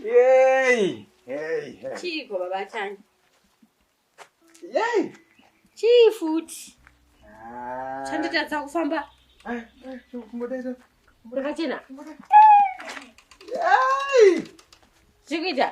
Yay! Hey, hey. Chiiko baba Tanya? Yay! Chii futi? Ah. Chanditadza kufamba. Ah, ah, kumbodaira. Rakachena. Yay! Chikuita?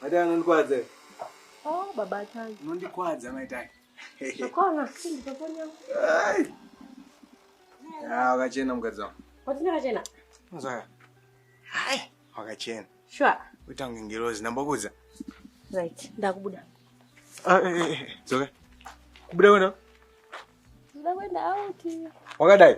Matai anondikwadza. Oh, baba Tani. Unondikwadza mai Tani. Zvakona, sindi pafoni yangu. Ah, wakachena mukadzi wangu. Watina wakachena? Muzaka. Hai, wakachena. Sure. Uita kunge ngirozi, ndambokudza. Right, ndakubuda. Ah, eh, eh, eh. Zoka. Kubuda kwenda? Ndakwenda out. Wakadai?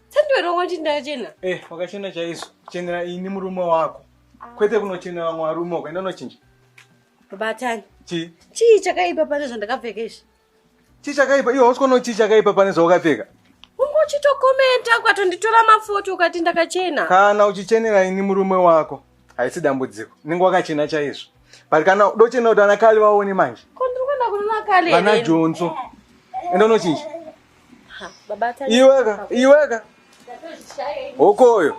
sandiweronga kuti ndachena eh wakachena chaizvo chenera ini murume wako kwete kunochenera vamwe varume ukaenda unochinja batani chii chii chakaipa pane zvandakapfeka izvi chii chakaipa iwe hausi kuona chii chakaipa pane zvawakapfeka uchitokomenta ukatonditora mafoto ukati ndakachena kana uchichenera ini murume wako haisi dambudziko ninge wakachena chaizvo but kana dochena kuti anakali vaone manje kondiri kuenda kunonakali vana jonso enda unochinja Iweka, iweka. Hokoyo.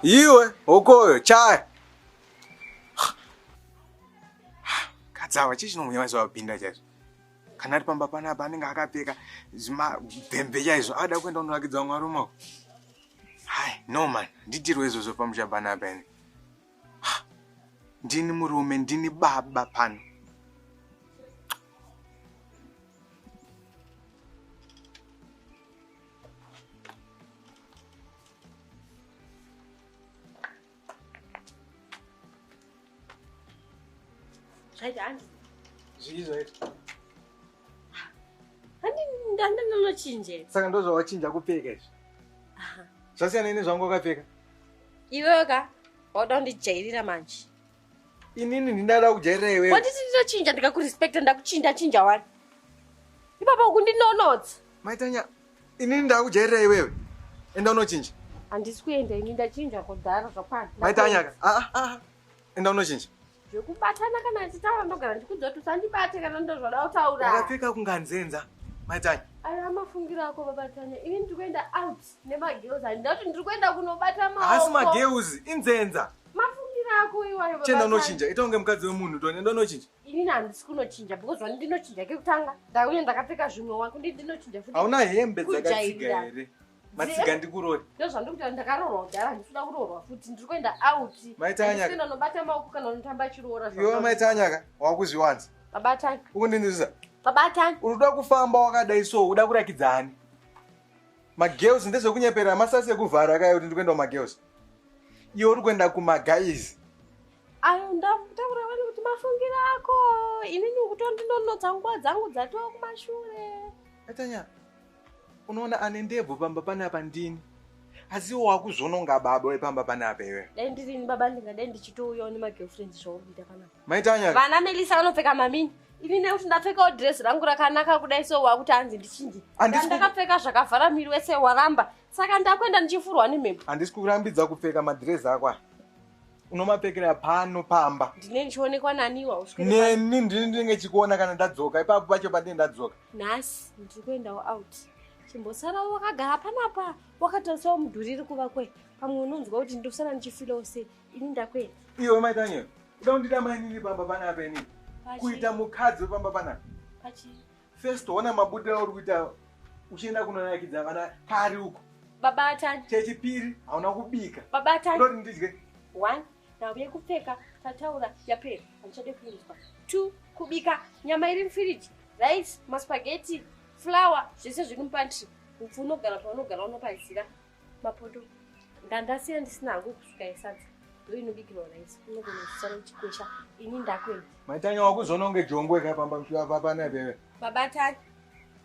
Iwe, hokoyo, chaya. Kadzawa, chii chinomunya maizwa wapinda chaizvo? Kana ari pamba panapa anenge akapfeka zvimabhembe chaizvo ada kuenda kunorakidza vamwe varume. Hai, no man, nditirwe izvozvo pamusha panapa ini. ndini murume ndini baba pano zvaita hanzi zvii zvaita handinonochinje saka ndozvawachinja kupfeka izvi zvasiyana ini zvangu wakapfeka iwewe ka wauda kundijairira manje inini ndindada kujairira iwewe wanditi ndinochinja ndikakurespecta ndakuchinja chinja wani ipapa ukundinonotsa maitanya inini ndakujairira iwewe enda unochinja handisi kuenda ini ndachinja kudhara zvakwana maitanyaka aa ah, ah, ah. enda unochinja zvekubatana kana achitaura ndogara ndikudza kuti usandibate kana ndozvoda kutaura akapfeka kunganzenza matanya ayo amafungiro ako babatanya ini ndiri kuenda out nemagirls handida kuti ndiri kuenda kunobata maasi magirls inzenza mafungiro ako iwayo chenda unochinja ita kunge mukadzi wemunhu tonenda unochinja inini handisi kunochinja because vani ndinochinja kekutanga ndauye ndakapfeka zvimwe wakundi ndinochinja futi hauna hembe dzakatsiga here matsiga ndikurore ndozvandikuta ndakarorwa kudhara ndikuda kurorwa futi ndiri kuenda out maitanyaka nobata maoko kana unotamba chiroora iwe maitanyaka wakuzviwanza babatanya ukundinzwisa babatanya unoda kufamba wakadai so uda kurakidza ani magirls ndezvekunyeperera masasi ekuvhara akaya kuti ndikuenda kumagirls iwe uri kuenda kumagaizi ayo ndakutaura vani kuti mafungiro ako inini kutondinonotsa nguva dzangu dzatova kumashure atanyaka unoona ane ndebvu pamba panapa ndini asi iwo wakuzvononga baba wepamba panapa iwe dai ndirini baba ndingadai ndichitouyawo nemagirlfriend zvaukuita panapa maitanya vana melisa vanopfeka mamini ini nekuti ndapfekawo dress rangu rakanaka kudai so wakuti hanzi ndichinje ndakapfeka zvakavhara miri wese waramba saka ndakuenda ndichifurwa nemhepo handisi kurambidza kupfeka madress ako aya unomapfekera pano pamba ndine ndichionekwa naniwa neni ndini ndinenge chikuona kana ndadzoka ipapo pacho pandine ndadzoka nhasi ndiri kuendawo out chimbosara wakagara panapa wakatarisawo mudhuri iri kuva kwe pamwe unonzwa kuti ndosara ndichifilawo se ini ndakwena iwe mai daniel uda kundida mainini pamba panapa ini kuita mukadzi wepamba panapa first ona mabudiro auri kuita uchienda kunonakidza vana kari uko baba atani chechipiri hauna kubika baba atani ndodindidye one nhau yekupfeka tataura yapera handichade kuinzwa two kubika nyama iri mufiriji rice maspageti flower zvese zviri mupantry upfu unogara paunogara unopazira mapoto ndandasiya ndisina hangu kusvika yesadza ndoinobikirwa rice unogona kusara uchikwesha ini ndakwenda maitanya wakuzononge jongwe kaipamba mshiwa papana ipeve babatani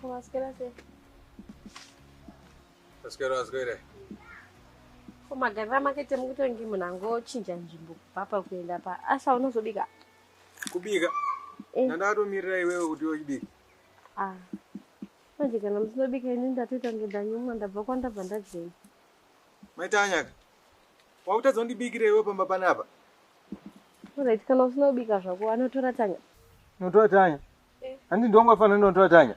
Como asqueira ser. Asqueira, asqueira. Koma garira makete mukutongi munhu angochinja nzvimbo kubva pakuenda pa asa unozobika kubika eh. ndandakatomirira iwewe kuti yochibika ah. manje kana musinobika ini ndatoita ngedanyumwa ndabva kwandabva ndadzeni Maitanyaka, wakutadza kundibikira iwe pamba panapa. Alright, kana usina kubika zvako, anotora Tanya. Notora Tanya? Eh. Handi ndongo afana notora Tanya.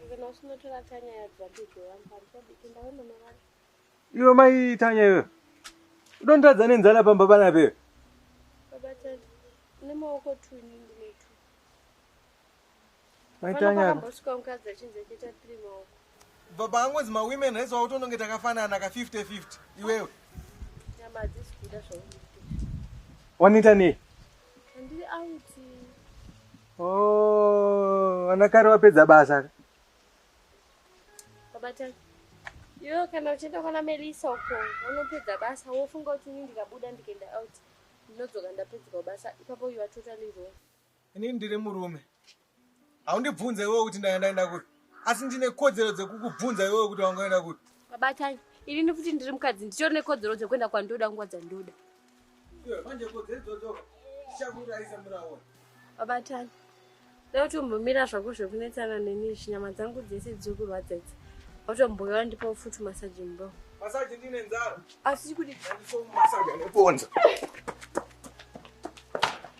Kana usina tora Tanya ya dzabiko, ampanisa bikinda wewe mama wako. Iwe mai Tanya iwe. Udondadza nenzala pamba panapa iwe. Baba Tanya, nemaoko tu inini. baba angonzi mawomen rais wautononge takafanana ka 50 50 iwewe wanoita nei oh, ana kare wapedza basa iwewe kana uchienda kwana melisa uko unopedza basa wofunga kuti ini ndikabuda ndikaenda out ndinodzoka ndapedzwa basa ipapo you are totally wrong ini ndiri murume haundibvunze iwewe kuti ndanga ndaenda kupi asi ndine kodzero dzekukubvunza iwewe kuti wanga waenda kupi babatai ini nekuti ndiri mukadzi nditori nekodzero dzekuenda kwandoda nguva dzandoda manje kodzero idzodzo dzichakuurayisa muraona babatai dautombomira zvako zvekunetsana neni zvinyama dzangu dzese dziri kurwadza idzi automboyora ndipa ufuti masaji mbo masaji ndine nzara asi kuti masaji aneponza